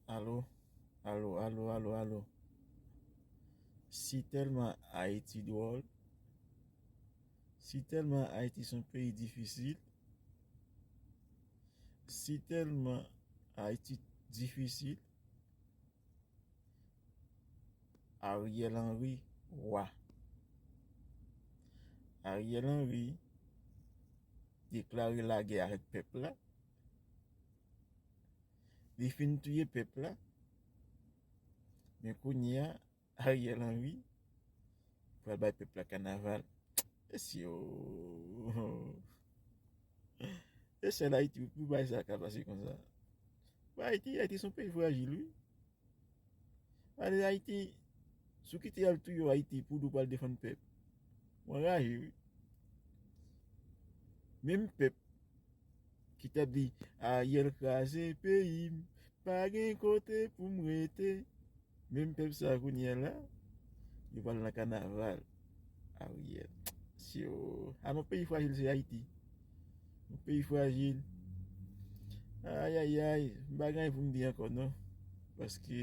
Alo, alo, alo, alo, alo Si tèlman Ayiti dwòl Si tèlman Ayiti son peyi difisil Si tèlman Ayiti difisil Ariel Henry Wa Ariel Henry deklare lagè avèk pèp la, li fin touye pèp la, men kounye a. Ariel Henry pral bay pèp la kanaval Mesye ooh E sèl Ayiti pou bagay sa ka pase konsa Ayiti Ayiti son peyi frajil wi Gade Ayiti Sou kite yal touye Ayiti pou ou pral defann pèp Mwen raje wi Menm pèp Ki tap di Ariel kraze peyim pa gen kote poum rete menm pèp sa kounyè la yo pral nan kanaval Ariel syo a nou peyi frajil se ayiti nou peyi frajil ayayay m pa gen anyen poum di ankò non paske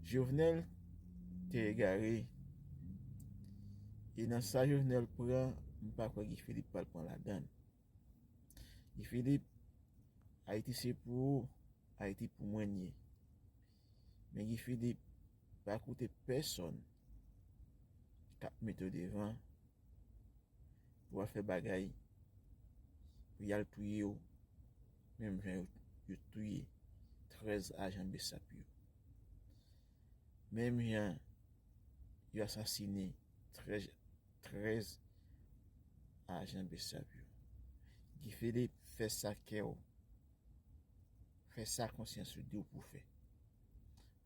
Jovenel te egare e nan sa Jovenel pran m pa kwè Guy Philippe pral pran ladann Guy Philippe Ayiti se pou ou Ayiti pou mwen n ye men Guy Philippe pa koute pèsòn kap mete w devan pou al fè bagay pou yal touye w menm jan yo touye 13 ajan bsap yo. Menm jan yo asasine 13 ajan bsap yo. Guy Philippe fè sa kè w, fè sa konsyans ou di w pou w fè.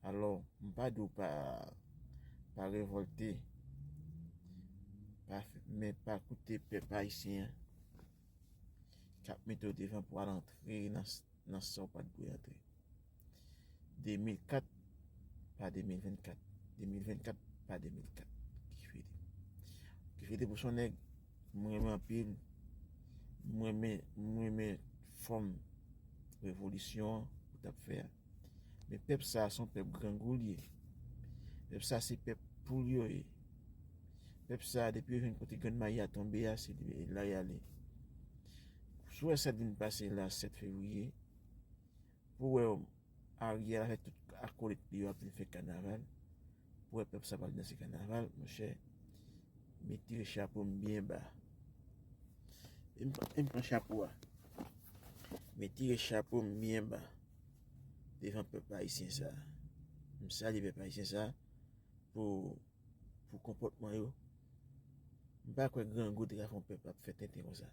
Alò, m pa di w pa revòlte, men pa koute pèp ayisyen an k ap mete w devan pou w al antre nan. nan sa w pa t dwe antre. 2004 pa 2024, 2024 pa 2004. Kifede. Kifede pou son nèg m renmen anpil. M renmen, m renmen fòm revolisyon an ou t ap fè a. Men pèp sa a se yon pèp grangou l ye. Pèp sa a se pèp poul yo ye. Pèp sa a depi yo jwenn kote grenn mayi a tonbe a se la y ale. Sou wè sat vin pase la 7 fevriye pou wè Ariel avèk tout akolit li yo ap vin fè kanaval pou wè pèp sa pral danse kanaval monchè me tire chapo m byen ba e m pran chapo a me tire chapo m byen ba devan pèp ayisyen sa m salye pèp ayisyen sa pou pou konpòtman yo. M pa kwè grangou te ka fè yon pèp ap fè tenten konsa.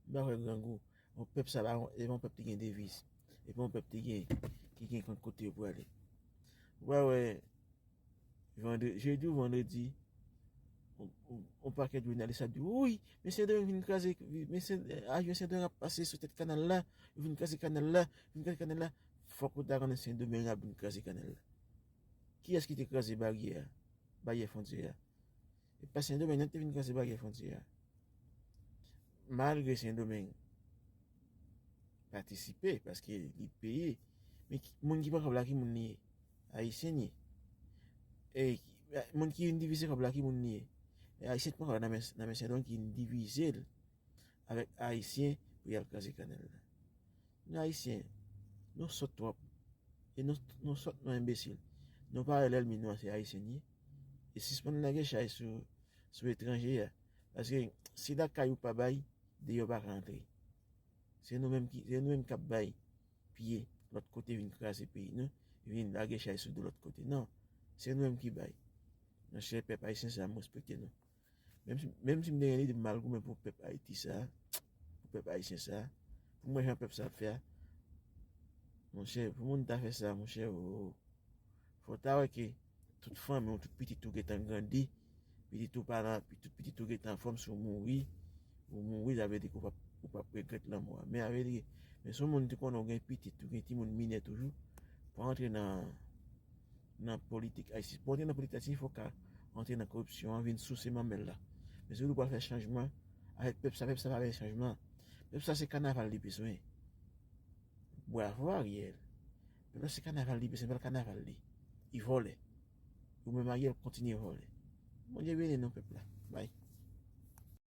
M pa kwè grangou, yon pèp sa pa yon pèp ki gen deviz. E pa yon pèp ki gen yon kote pou ale. Ou pa wè jedi ou vandredi, yon pakèt jounalis ap di, wouyy, men Sendomeng vin kraze, avyon Sendomeng ap pase sou tèt kanal la, yo vin kraze kanal la, yo vin kraze kanal la. Fòk ou ta konnen Sendomeng ap vin kraze kanal la. Kiyès ki te kraze baryè a, baryè fwontyè a? Se pa Sendomeng non ki te vin kraze baryè fwontyè a. Malgre Sendomeng patisipe paske li peye, men moun ki pran kòb la ki moun li ye? Ayisyen li ye. Moun ki vin divize kòb la ki moun li ye? Ayisyen ki pran kòb la nan men Sendomeng ki vin divize l. avèk ayisyen pou yal kraze kanèl la nou ayisyen nou sòt twòp e nou sòt nou enbesil nou pa wè lèlmi nou an se ayisyen li ye e sispann lage chay sou etranje a paske si lakay ou pa bay deyò pa ka antre se nou menm ki ap bay piye lòt kote vin kraze peyi nou vin lage chay sou do lòt kote nan se nou menm ki bay mèche pèp ayisyen sa m respekte nou Menm si m te gen lide pou mal goumen pou pèp Ayiti sa, pou pèp Ayisyen sa, pou m wè jan pèp sa ap fè a, monchè, pou moun ta fè sa, monchè oo, fò w ta wè ke tout fanmi w, tout pitit ou gen tan grandi, pitit ou pa nan, tout pitit ou gen tan anfòm, si w mouri, ou mouri, sa vle di ke ou p ap regrèt lanmò a. Men sa vle di ke, men si w moun ki konnen w gen pitit, ou gen timoun minè toujou, pa antre nan, nan politik ayisyen pou antre nan politik ayisyen fok ka antre nan koripsyon an vin souse manmèl la men si ou di ou pral fè chanjman avèk pèp sa pèp sa pa vle chanjman pèp sa se kanaval li bezwen bwavo Ariel pèp la se kanaval li bezwen se bèl kanaval li li vòlè ou menm Ariel kontinye vòlè Bondye beni nou pèp la bay.